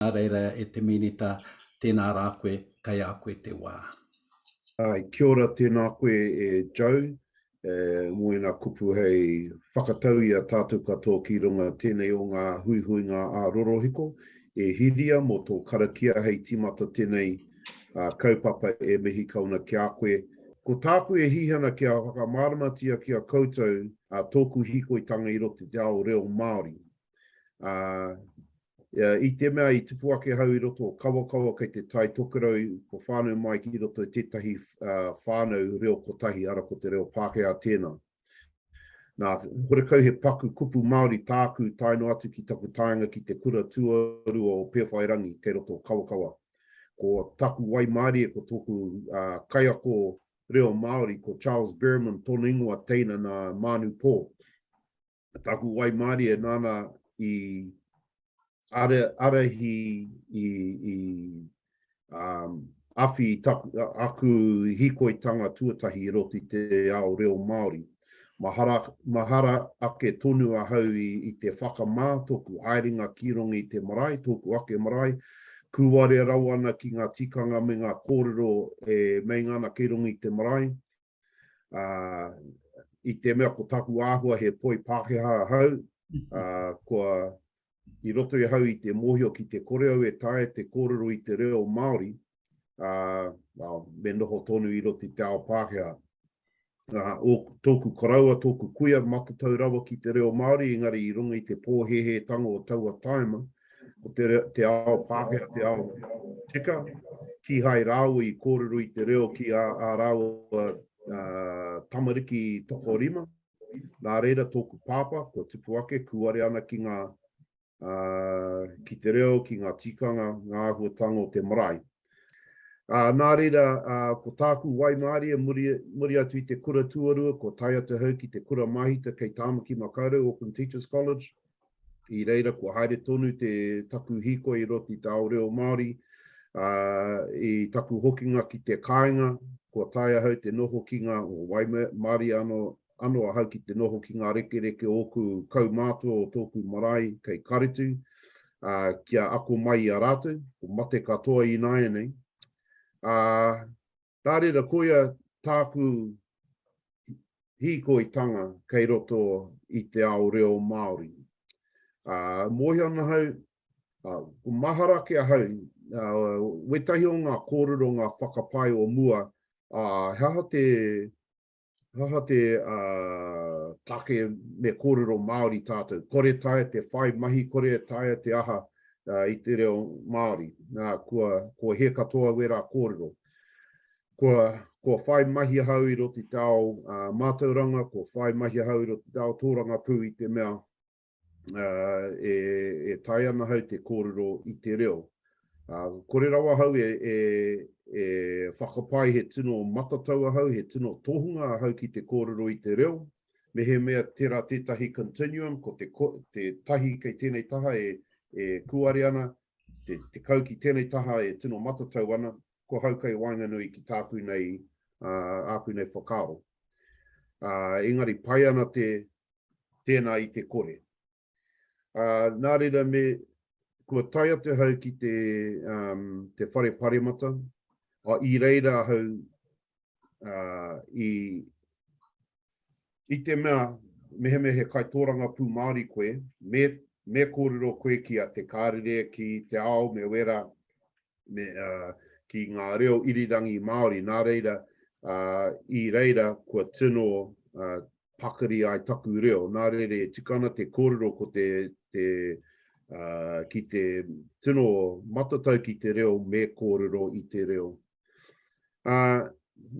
Nā reira e te Minita, tēnā rā koe, kei a koe te wā. Āe, kia ora, tēnā koe e Joe, mō ēnā kupu hei whakatau i a tātou katoa ki runga tēnei o ngā huihuinga ā-rorohiko. E Hiria, mō tō karakia hei tīmata tēnei kaupapa e mihi kau ana ki a koe. Ko tāku e hihi ana kia whakamāramatia ki a koutou tōku hīkoitanga i roto i te ao reo Māori. Uh, uh, I te mea i tupu ake hau i roto o Kawakawa kei te tai tokerau ko whānau mai ki roto i tētahi uh, whānau reo kotahi ara ko te reo Pākehā tēnā. Nā, horekau he paku kupu Māori tāku taino atu ki taku taenga ki te kura tuarua o Pēwhairangi kei roto o Kawakawa. Ko taku wai mārie, ko tōku uh, kaiako reo Māori, ko Charles Berman, tōna ingoa teina nā Mānu Pō. taku waimarie nana i are, arehi i, i um, awhi taku, aku hikoitanga tuatahi i roti te ao reo Māori. Mahara, mahara ake tonu ahau i, i te whakamā toku haerenga ki rongo i te marae, tōku ake marae, kūware rawa ana ki ngā tikanga me ngā kōrero e meinga ana kei rongo i te marae, ā, i te mea ko taku āhua he poi Pākehā ahau, ā, kua i roto i ahau i te mōhio ki te kore au e taea te kōrero i te reo Māori, ā, ā, me noho tonu i roto i te ao Pākehā. Ā, ō, tōku koroua, tōku kuia, matatau rawa ki te reo Māori, engari i runga i te pōhēhētanga o taua tāima, ā, o te, te ao Pākehā, te ao tika, kihai rāua i kōrero i te reo ki a, a rāua uh, tamariki tokorima. Nā reira tōku pāpā, kua tupu ake, kūare ana ki ngā uh, ki te reo, ki ngā tikanga, ngā ahuatanga o te marae. Uh, nā reira, uh, ko tāku waimārie muri, muri atu i te kura tuarua, ko tai atu hau ki te kura mahita kei Tāmaki Makaurau, Auckland Teachers College, I reira kua haere tonu te taku hikoi roti te ao reo Māori, ā, i taku hokinga ki te kāinga, kua tae ahau te noho ki ngā waimarie anō, anō ahau ki te noho ki ngā rekereke o ōku kaumātua o tōku marae kei Karetu, ā, kia ako mai i a rātou, ko mate katoa ināianei. Ā. Nā reira, koia tāku hīkoitanga kei roto i te ao reo Māori. Ā, mōhio ana hau, ā, ko mahara ake ahau, ā, wētahi o ngā kōrero, ngā whakapae o mua, ā, he aha te Aha te take me kōrero Māori tātou? Kore taea te whai mahi, kore taea te aha i te reo Māori. Nā, kua hē katoa wērā kōrero. Kua whai mahi ahau i roto i te ao mātauranga, kua whai mahi ahau i roto i te ao tōrangapū i te mea e, e tae ana hau te kōrero i te reo. Uh, kore rawa hau e, e, e whakapai he tino matatau ahau, he tino tohunga ahau ki te kōrero i te reo. Me he mea tera tētahi continuum, ko te, ko, te tahi kei tēnei taha e, e kuare ana, te, te kau ki tēnei taha e tino matatau ana, ko hau kei waenganui ki tāku nei, uh, āku nei whakaaro. Uh, engari, pai ana te, tēnā i te kore. Ā, nā reira me, kua tae atu ahau ki te, um, te whare paremata, a, i reira ahau, ā, i, i te mea, mehemea he kai tōranga pū Māori koe, me, me kōrero koe ki a te kārere, ki te ao, me wera, me, uh, ki ngā reo irirangi Māori, nā reira, uh, i reira kua tino uh, pakari ai taku reo, nā reira e tika ana te kōrero ko te, te uh, ki te tino matatau ki te reo me kōrero i te reo. Uh,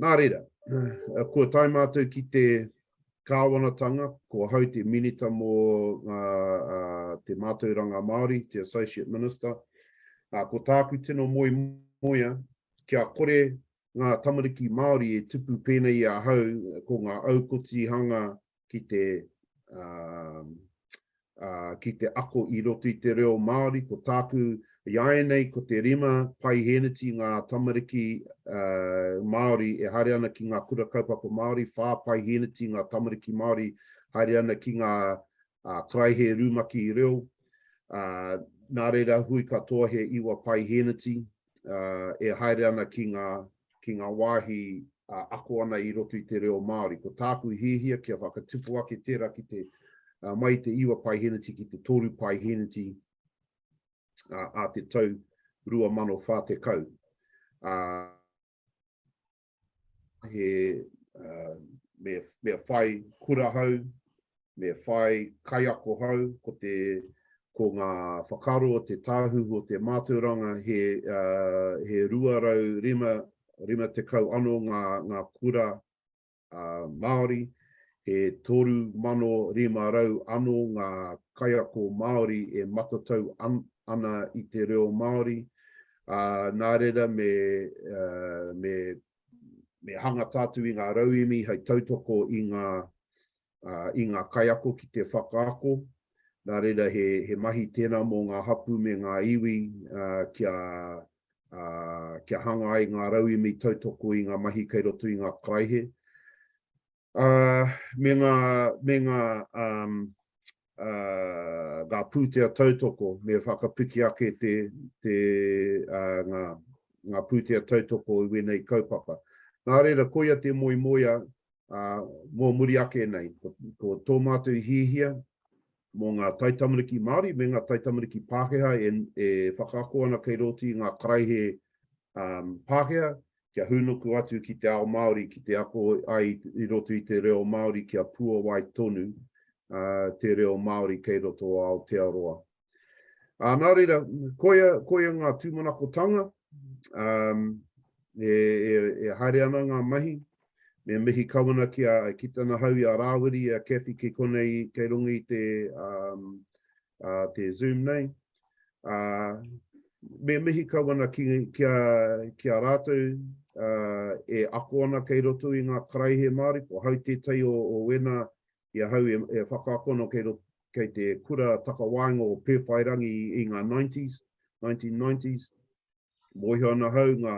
nā reira, uh, kua tae mātou ki te Kāwanatanga, ko ahau te Minita mō ngā te Mātauranga Māori, te Associate Minister. Ko tāku tino moemoea, kia kore ngā tamariki Māori e tupu pēnei i ahau ko ngā aukotihanga ki te ki te ako i roto i te reo Māori, ko tāku i āianei ko te rima paihēneti ngā tamariki Māori e haere ana ki ngā kura kaupapa Māori, whā paihēneti ngā tamariki Māori haere ana ki ngā karaehe rumaki reo, nā reira hui katoa he iwa paihēneti, uh, e haere ana ki ngā, ki ngā wāhi uh, ako ana i roto i te reo Māori. Ko tāku i hihia kia whakatupu ake tērā ki te uh, mai te iwa pai heneti ki te tōru pai heneti uh, a te tau 2040. Uh, he uh, me, me whai kura hau, me whai kaiako hau, ko te ko ngā whakaro o te tāhuhu o te mātauranga he, uh, he 250 ano ngā, ngā kura uh, Māori, he 3,500 ano ngā kaiako Māori e matatau an, ana i te reo Māori, ā, nā reira me, me, me hanga tātou i ngā rauemi hei tautoko i ngā, i ngā kaiako ki te whakaako, nā reira he, he mahi tēnā mō ngā hapū me ngā iwi kia, kia hanga ai ngā rauemi tautoko i ngā mahi kei roto i ngā karaihe. Ā, me ngā, me ngā, ā, ā, ngā pūtea tautoko, me whakapiki ake te, te, ā, ngā, ngā pūtea tautoko i wēnei kaupapa. Nā reira, koia te moemoea, ā, mō muri ake nei, ko, ko tō mātou hiahia, mō ngā taitamariki Māori me ngā taitamariki Pākehā e whakaako ana kei rōti i ngā karaehe Pākehā, kia hūnuku atu ki te ao Māori, ki te ako ai i roto i te reo Māori kia puawai tonu te reo Māori kei roto o Aotearoa. Nā reira, koia ngā tūmanakotanga, e haere ana ngā mahi, Me mihi kawana ki a, ki tana hau i a Rāwiri, i a Cathy ki konei kei runga i te, um, uh, te Zoom nei. Uh, me mihi kawana ki, ki, a, ki a rātou uh, e ako ana kei roto i ngā karaihe Māori, ko hau tētai o, o wena i a hau e, e whakaako ana kei, roto, kei te kura takawaenga o Pēwhairangi i ngā 90s, 1990s. Mōhio ana hau ngā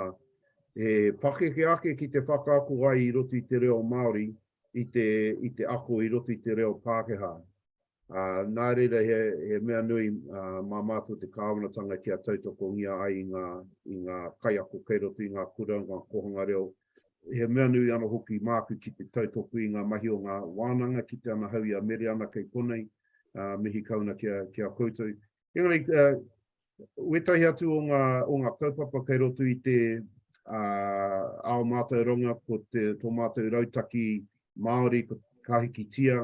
he pakeke ake ki te whakaako ai i roto i te reo Māori i te i te ako i roto i te reo Pākehā. Ā, nā reira he he mea nui mā mātou te Kāwanatanga kia tautokongia ai i ngā i ngā kaiako kei roto i ngā kura, ngā kōhanga reo. He mea nui ana hoki māku ki te tautoko i ngā mahi o ngā wānanga, kite ana hau i a Mereana kei konei, ā, mihi kauna ki a ki a koutou. Engari, wētahi atu o ngā, o ngā kaupapa kei roto i te uh, ao mātauranga, ko te, tō mātou rautaki Māori, ko ka hikitia,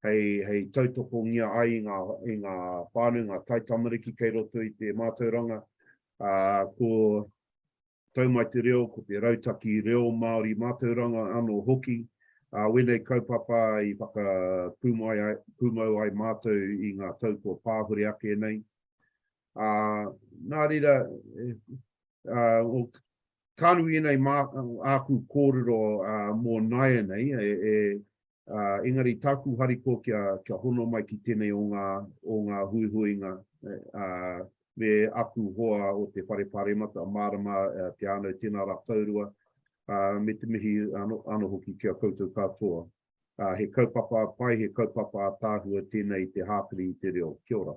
hei, hei tautokongia ai i ngā, i ngā whānau, ngā taitamariki kei roto i te mātauranga, uh, ko Tau mai te reo, ko te rautaki reo Māori mātauranga anō hoki, ā, wēnei kaupapa i whakapūmau ai mātou i ngā tau kua pāhure ake nei. Ā, nā reira, ka nui ēnei āku kōrero mō nāianei, e, Uh, engari tāku harikoa kia, kia hono mai ki tēnei o ngā, o ngā huihuinga uh, me aku hoa o te whare pāremata, mārama uh, te ānau tēnā rā kaurua, uh, me te mihi ano, ano hoki kia koutou katoa. Uh, he kaupapa pai, he kaupapa tāhua tēnei te hāpiri i te reo. Kia ora.